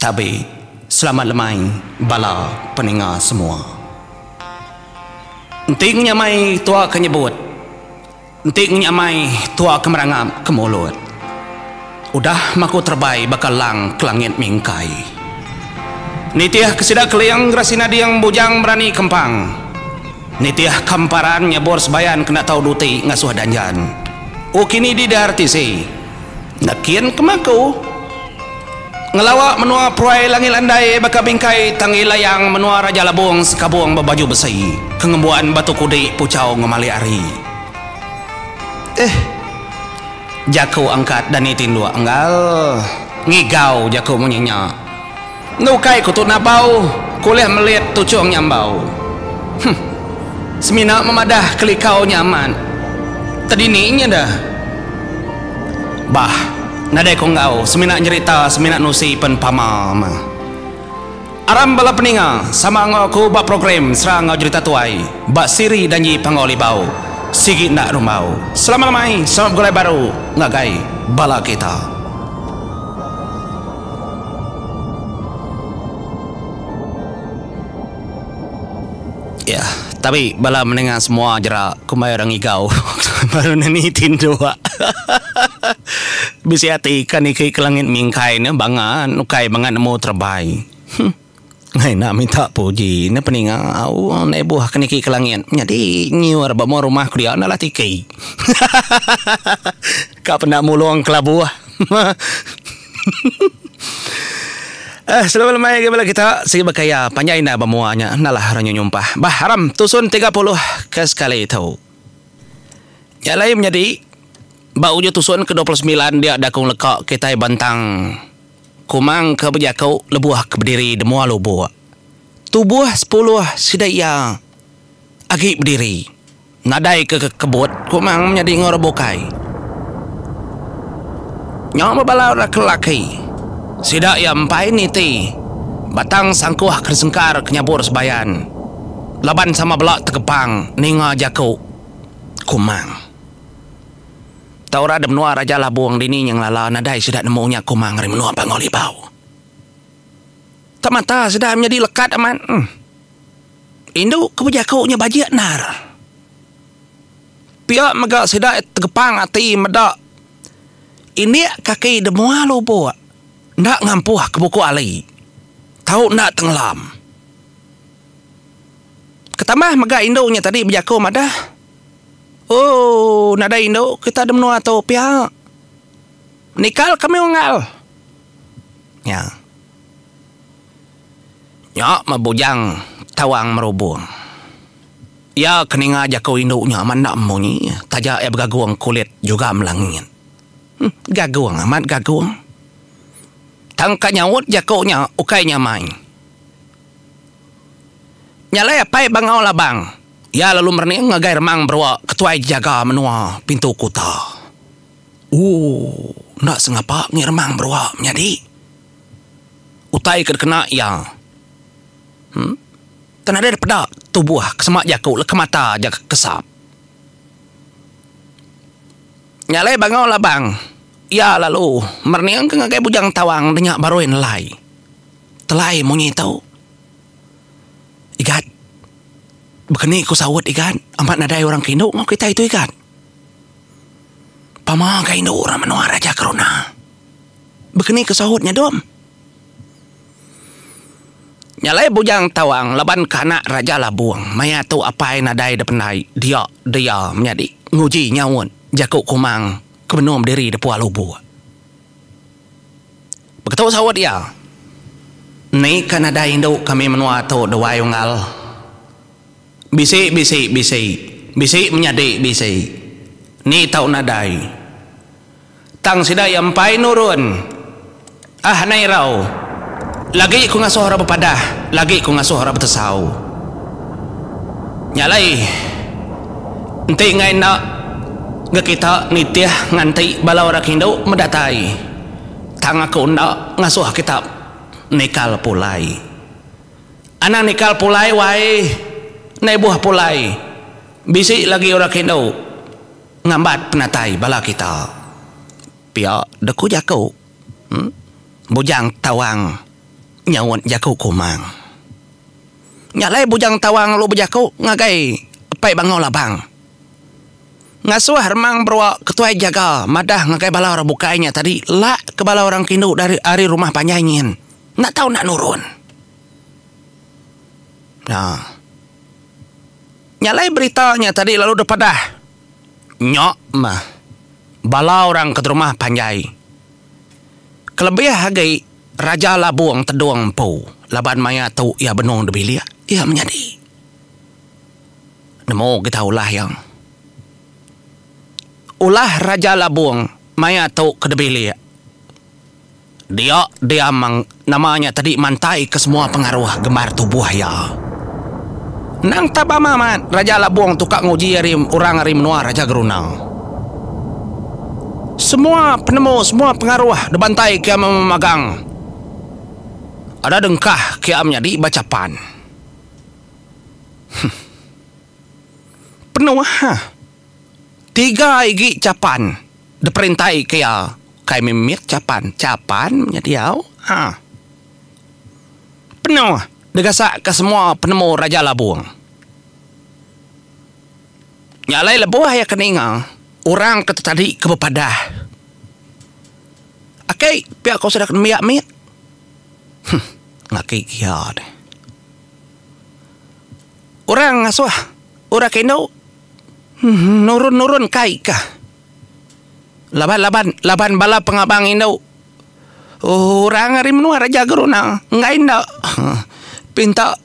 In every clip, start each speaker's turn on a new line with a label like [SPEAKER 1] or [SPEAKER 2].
[SPEAKER 1] Tabi selamat lemai bala peninga semua. Enti ngunya mai tua ke nyebut, enti ngunya mai tua ke merangap ke mulut. Udah maku terebai baka lang ke langit mingkai. Nitih ke sida keling gerasi nading bujang berani kempang. Nitih ke emparan nyabur sebayan kena tau duti ngasuh danjan. O kini didar tisi. Nakin kema ku ngelawa menua Peruai Langit Landai baka bingkai tanggi layang menua Raja Labong sekabong bebaju besi ke ngembuan batu kudi puchau ngemali ari. Ehh. Jaku angkat dani tinduk enggal. Ngigau jaku munyi nya. Enda ukai ku tu nabau ku ulih melit tuchung nya ambau. Huh. Semina memadah kelikau nya amat tedini nya da. Bah, nadai ku enggau semina nyerita semina nusi pen pama mah. Aram bala peninga sama enggau aku ba program Sera enggau Jerita Tuai ba siri Danji Panggau Libau sigi enda rumbau. Selama lemai sama begulai baru ngagai bala kita. Iya, tabi bala menenga semua jerak kumbai orang igau baru ne niti indu hahaha bisi ati ikan ike ke langit mingkai ne banga ukai banga nemu terebai huh. Ngai enda minta puji ne peninga au andai buah ke niki ke langit nyadi nyiur ba mua rumah ku dia enda lah tiki hahahahaha ka penda mulung kelabuh hahahaha eh selalu lemai agi bala kita sigi bekaya panjai enda ba mua nya enda lah renyu nyumpah bah aram tusun tiga puluh ke sekali tu nya alai menyadi ba ujau tusun ke dua puluh semilan dia dakung leka kitai bentang. Kumang ke bejaku lebuh ke bediri di mua lubuk. Tubuh sepuluh sida iya agi bediri. Nadai ke kekebut Kumang menyadi enggau orang bukai. Nyau bebala orang ke lelaki. Sida iya empai niti batang sangkuh ke disengkar ke nyabur sebayan laban sama bela tegepang ninga jaku Kumang. Tau orang da menua Raja Labong dini nya ngelala nadai sida nemu nya kumang ari menua Bangau Libau. Tang mata sida menyadi lekat amat. Em. Indu ke bejaku nya bajik endar. Pia mega sida tegepang ati meda indik kaki da mua lubuk enda ngampuh ke buku ali. Tau enda tengelam. Ketambah mega indu nya tadi bejaku madah. Ooh nadai indu kita da menua tu pia. Menikal kami unggal. Nya. Nya meh bujang tawang merubung. Iya ke ninga jaku indu nya amat enda munyi taja iya begagung kulit juga melangit. Huh gagung amat gagung. Tang ka nyaut jaku nya ukai nya mai. Nya alai apai Bangau Labang. Iya lalu merening ngagai Remang Berua, ketuai jejaga menua Pintu Kuta. Ooh, enda sengapa mih Remang Berua menyadi. Utai ke dikena iya. Huh. Tang nadai dipeda tubuh ke sema jaku leka mata aja ke kesap. Nya alai Bangau Labang. Iya lalu merening ngagai Bujang Tawang denya barui nelai. Telai munyi tu. Igat. Bekeni ku saut igat amat nadai orang ke indu enggau kitai tu igat. Pama ka indu orang menua raja keruna. Bekeni ku saut nya dom. Nya alai Bujang Tawang laban ka anak Raja Labong maya tu apai nadai da pendai dia dia menyadi nguji nyaut jaku Kumang ke benum diri da Puak Lubok. Beketu saut iya. Ni ka nadai indu kami menua tu duai unggal. Bisi bisi bisi. Bisi menyadi bisi. Ni tau nadai. Tang sida iya empai nurun. Ah nai rau. Lagi ku ngasuh orang bepadah, lagi ku ngasuh orang betesau. Nya alai. Enti enggai enda. Ga kita nitih nganti bala orang indu medatai tang aku enda ngasuh kita nikal pulai. Anang nikal pulai wai ndai buh pulai bisi lagi orang indu ngambat penatai bala kita, pia deh ku jaku Bujang Tawang nyaut jaku Kumang. Nya alai Bujang Tawang lalu bejaku ngagai Apai Bangau Labang. Ngasuh Remang Berua Ketuai Jaga madah ngagai bala orang bukai nya tadi lak ke bala orang kindu dari ari rumah panjai nyin enda tau enda nurun. Nya nya alai berita nya tadi lalu deh padah nya mah bala orang ke rumah panjai kelebih agi Raja Labong Tedong empu laban maya tu iya benung dibilik iya menyadi. Nemu kita ulah iya. Ulah Raja Labung maya tu ke dibilik. Dia diam mang nama nya tadi mantai ke semua pengaruh gembar tubuh iya. Endang tap bama mat Raja Labung tu ka nguji ari orang ari menua Raja Geruna. Semua penemu semua pengaruh dibantai ke iya memagang. Ada dengkah ke iya menyadi bacapan. Penuh ha. Tiga igi chapan diperintai ke iya kai meh mit chapan. Chapan nya diau ha. Penuh digasak ke semua penemu Raja Labong. Nya alai lebuh iya ke ninga orang ke tetadi ke bepadah. Aki pia ko sida ke nembiak mit. Huh ngaki ke iya deh. Orang ngasuh orang ke indu nurun-nurun kai ka laban-laban laban bala pengabang indu orang ari menua raja geruna enggai enda pinta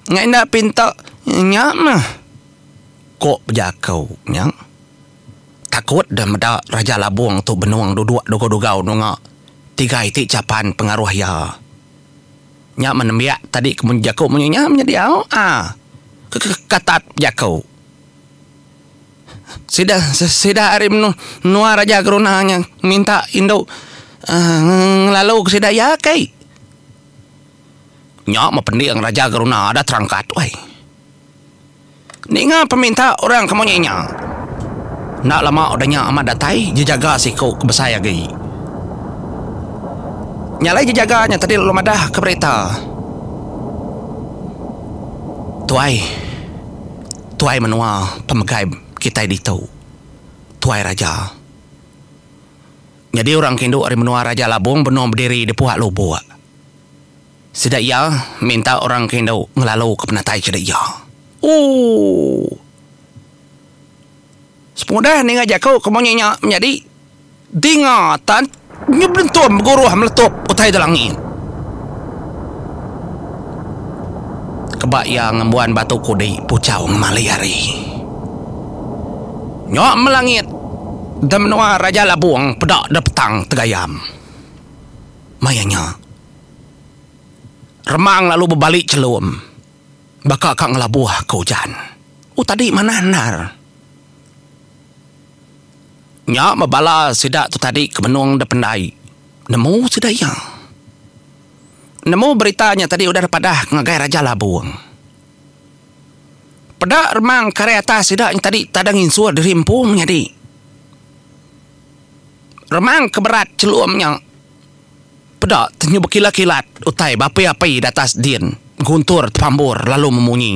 [SPEAKER 1] enggai enda pinta nya meh ko bejaku nya takut deh meda raja labong tu benung duduk degau-degau nunga tiga iti chapan pengaruh iya. Nya meh nembiak tadi ke mun jaku munyi nya meh diau a ke ke katat jaku. Sida sida ari menu menua raja geruna nya minta indu uhh ngelalu ke sida iya kai. Nya meh pending raja geruna ada terangkat wai. Ninga peminta orang ke munyi nya. Enda lama udah nya amat datai jejaga siku ke besai agi. Nya alai jejaga nya tadi lalu madah ke berita, Tuai, tuai menua pemegai kitai ditu, tuai raja. Nyadi orang ke indu ari menua Raja Labong benung bediri di Puak Lubok. Sida iya minta orang ke indu ngelalu ke penatai sida iya. Ooh. Semudah ninga jaku ke munyi nya menyadi dinga tan nyebelentum beguruh meletup utai da langit. Keba iya ngembuan batu kudi puchau ngemali hari. Nya melangit da menua Raja Labong peda da petang tegayam. Maya nya. Remang lalu bebali chelum. Baka ka ngelabuh ke ujan. Oh tadi manah endar. Nya meh bala sida tu tadi ke benung dep endai. Nemu sida iya. Nemu berita nya tadi udah dep padah ngagai Raja Labong. Peda remang ke ari atas sida nya tadi tada nginsur diri empu menyadi. Remang ke berat chelum nya. Peda tenyu bekilat-kilat utai bapih api di atas din, guntur tepambur lalu memunyi.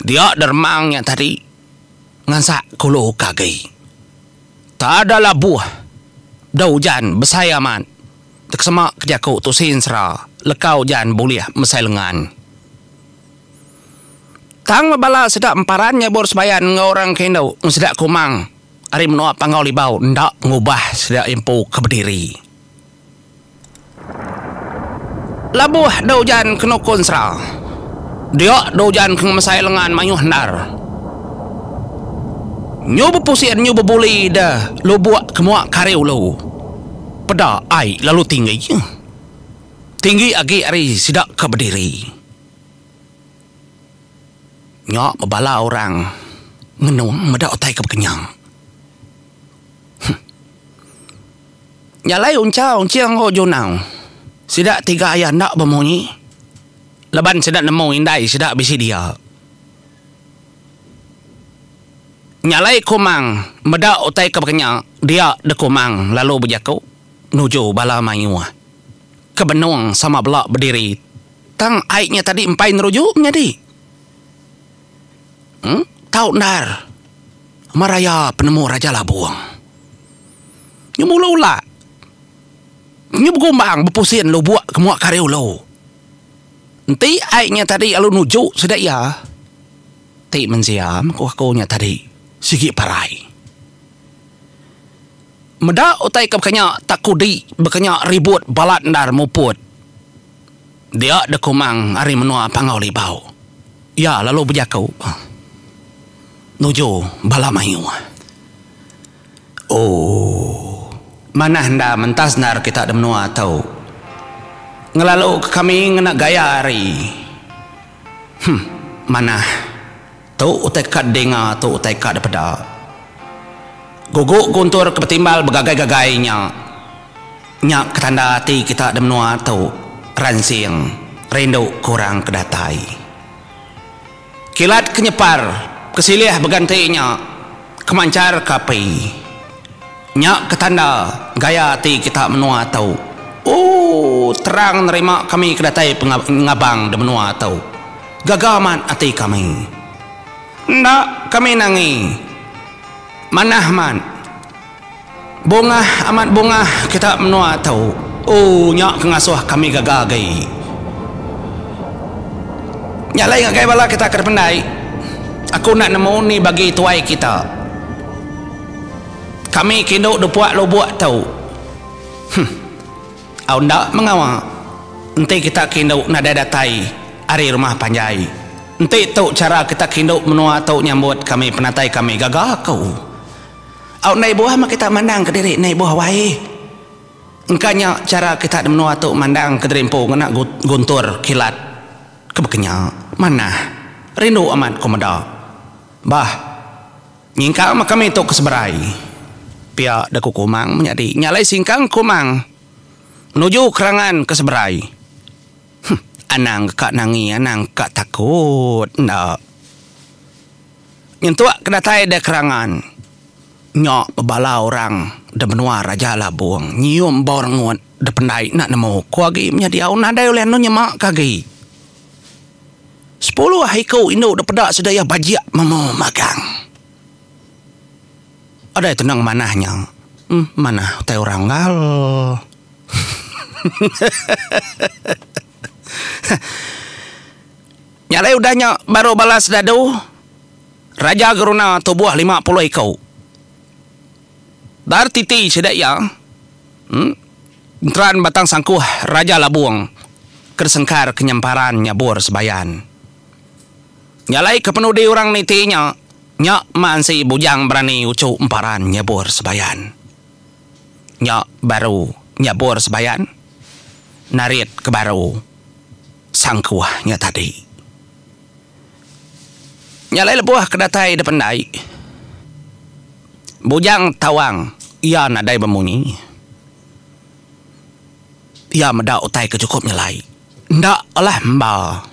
[SPEAKER 1] Dia deremang nya tadi ngansak kulu ke agi. Tada labuh da ujan besai amat dekesema ke jaku tu sin sera leka ujan bulih mesai lengan. Tang bebala sida emparan nyebur sembayan enggau orang ke indu ngan sida kumang. ari menua Panggau Libau enda ngubah sedia empu ke bediri. Labuh dau ujan ke nukun sera, dia dau ujan ke ngemesai lengan mayuh endar. Nyu bepusin nyu bebuli deh lubuk ke mua kari ulu. Peda ai lalu tinggi. Tinggi agi ari sida ke bediri. Nya bebala orang ngenung meda utai ke bekenyang. Huh. Nya alai Uncha, Unching enggau Junau. Sida tiga iya enda bemunyi laban sida nemu indai sida bisi dia. Nya alai Kumang meda utai ke bekenya dia deh Kumang lalu bejaku nuju bala mayuh ke benung sama bela bediri. Tang ai nya tadi empai neruju menyadi. Em tau endar maraya penemu Raja Labong. Nyu mulu ula. Nyu begumbang bepusin lubok ke mua kari ulu. Enti ai nya tadi lalu nuju sida iya. Ti mensia ku aku nya tadi sigi parai. Meda utai ke bakanya takudi bakanya ribut balat endar muput. Dia dekumang ari menua Panggau Libau. Iya lalu bejaku nuju bala mayuh. Ooh. Manah enda mentas endar kita di menua tu. Ngelaluka kami ngena gaya ari. Huh. Manah. Tu utai ka dinga tu utai ka dipeda. Guguk guntur ke betimbal begagai-gagai nya. Nya ke tanda ati kita di menua tu ransing rindu ke orang ke datai. Kilat ke nyepar ke silih beganti nya Kemanchar ke api. Nya ke tanda gaya ati kita menua tu. Ooh terang nerima kami ke datai pengabang di menua tu. Gaga amat ati kami. Enda kami nangi. Manah amat. Bongah amat bongah kita menua tu. Ooh nya ke ngasuh kami gaga agi. Nya alai ngagai bala kita ke dipendai aku enda nemu ni bagi tuai kita. Kami ke indu depuk lubuk tu. Huh. Au enda mengawa enti kita ke indu nadai datai ari rumah panjai. Enti tu chara kita ke indu menua tu nyambut kami penatai kami gaga aku. Au ndai buah meh kita mandang kediri ndai buah wae. Engka nya chara kita di menua tu mandang kediri empu ngena guntur kilat ke baka nya. Manah. Rindu amat ku meda. Bah. Nyingkang meh kami tu ke seberai. Pia da ku Kumang menyadi nya alai singkang Kumang nuju kerangan ke seberai. Huh. Anang ka nangi anang ka takut enda. Nyentuk ke datai da kerangan nya bebala orang da menua Raja Labong nyium bau rengut da pendai enda nemu ko agi menya diau nadai ulih anu nyema ke agi. Sepuluh iku indu da peda sida iya bajik memu magang. Adai teneng manah nya manah utai orang enggau. Nya alai udah nya baru bala sedadu Raja Geruna tubuh lima puluh iku. Dar titi sida iya enteran Batang Sangkuh Raja Labung ke disengkar ke nyemparan nyabur Sebayan. Nya alai kepenudi orang niti nya, nya mansi bujang berani uchu emparan nyabur Sebayan. nya baru nyebur sebayan narit ke baru sangkuh nya tadi. Nya alai lebuh ke datai dep endai Bujang Tawang iya nadai bemunyi. Iya meda utai ke chukup nya alai. Enda lah emba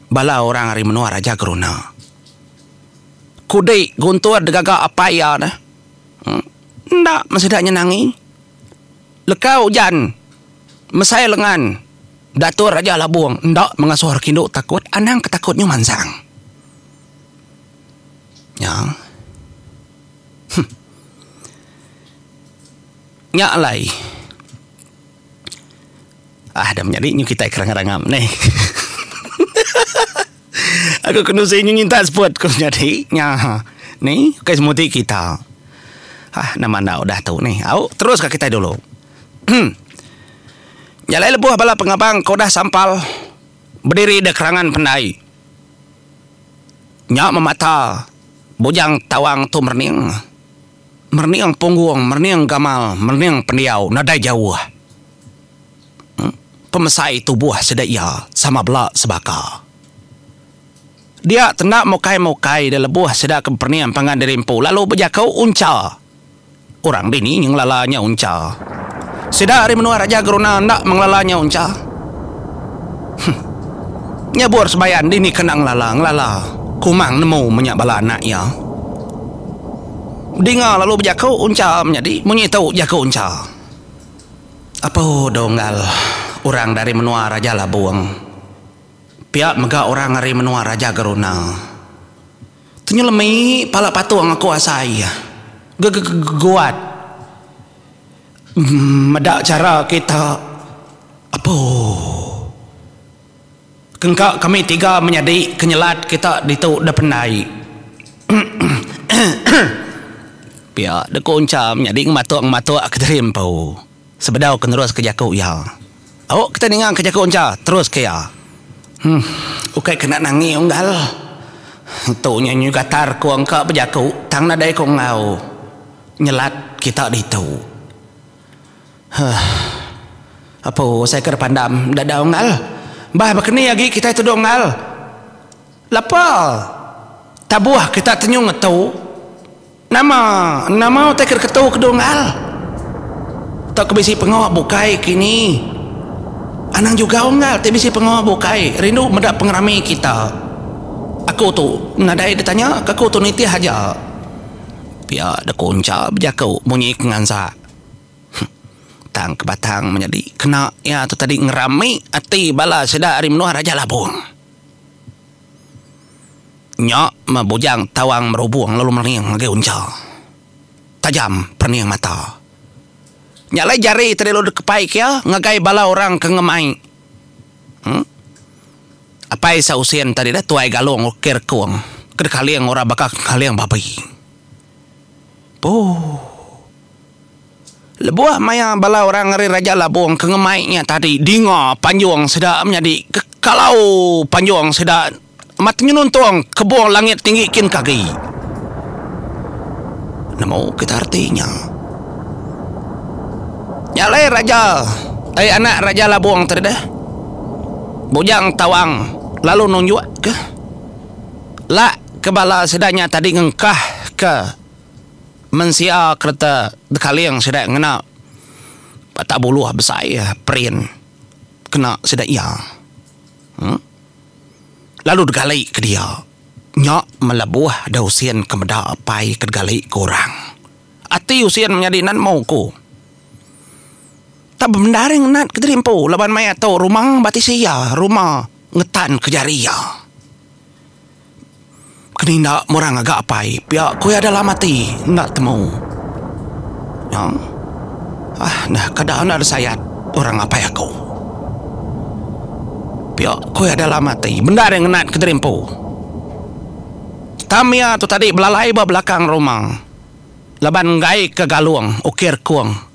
[SPEAKER 1] bala orang ari menua Raja Geruna. Kudi Guntur degaga apai iya neh. Enda meh sida nyenangi. Leka ujan mesai lengan Datuk Raja Labong enda mengasuh orang indu takut anang ke takut nyu mansang. Nya. Huh. Nya alai. Ah, dah menyadi nyu kitai ke rangap-rangap neh. Aku kenu sing nginta spot ku nyadi nya ni ukai semua ti kita. Hah nama enda udah tu ni. Au teruska kitai dulu. Jalai lebuh bala pengabang ke udah sampal bediri da kerangan pendai nya memata Bujang Tawang tu merening. Merening punggung, merening gamal, merening pendiau nadai jauh. pemesai tubuh sida iya sama bela sebaka. Dia tenda mukai-mukai da lebuh sida ke bepening pangan diri empu lalu bejaku uncha. Orang dini nyengelala nya uncha? Sida ari menua Raja Geruna enda mengelala nya uncha. Huh. Nyebur sebayan dini ke enda ngelala, ngelala. Kumang nemu menya bala anak iya. Bedinga lalu bejaku uncha menyadi munyi tu jaku uncha. Apu Donggal, orang dari menua Raja Labong, pia mega orang ari menua Raja Geruna. Tenyelemi pala patung aku asai iya gegegeguat meda chara kita apu. Kengka kami tiga menyadi kenyelat kita ditu da pendai. Pia da ku Uncha menyadi ngematuk-ngematuk ke diri empu sebedau ke neruska jaku iya. Au kitai ningangka jaku Uncha terus ke iya. Huh, ukai kena nangi unggal. Tu nya nyu gatar ku engka bejaku tang nadai ku enggau nyelat kita ditu. Huh. Apu usai ke depandam enda dau Engal. Bah bekeni agi kitai tuduh Engal. Lapa tabuh kita tenyung ngetu. Nama nama utai ke diketu kedu Engal. Tauka bisi pengawa bukai kini. Anang jugau Engal ti bisi pengawa bukai rindu meda pengerami kita. Aku tu nadai ditanya ke aku tu nitih aja. Pia da ku Uncha bejaku munyi ke ngansa. Huh. Tang ke batang menyadi kena iya tu tadi ngerami ati bala sida ari menua Raja Labong. Nya meh Bujang Tawang Merubong lalu merening ngagai Uncha. Tajam perening mata. Nya alai jari tadi lalu dikepaika iya ngagai bala orang ke ngemai. Huh. Apai Sa Using tadi dah tuai galung uki rekung ke dikaling orang baka kaling babi. Puh. Lebuh maya bala orang ari Raja Labong ke ngemai nya tadi dinga panjung sida menyadi ke kalau panjung sida amat tenyenuntung kebong langit tinggi kin ke agi. Nemu kita reti nya. Nya alai Raja, ai anak Raja Labong tadi dah. Bujang Tawang lalu nunjukka lak ke bala sida nya tadi ngengkahka mensia kereta dekaling sida ngena batak buluh besai print kena sida iya uhh lalu degali ke dia nya melebuh deh usin ke meda apai ke degali ke orang ati usin menyadi nan mauku. Tang bendar iya ngenat ke diri empu laban maya tu ruma ba tisi iya, ruma ngetan ke jari iya. Keninda murang ngaga apai pia ku iya dalam ati enda temu. Nya. Ah nah kada enda disayat orang apai aku. Pia ku iya dalam ati bendar iya ngenat ke diri empu. Tam iya tu tadi belalai ba belakang ruma laban enggaika galung ukir kung.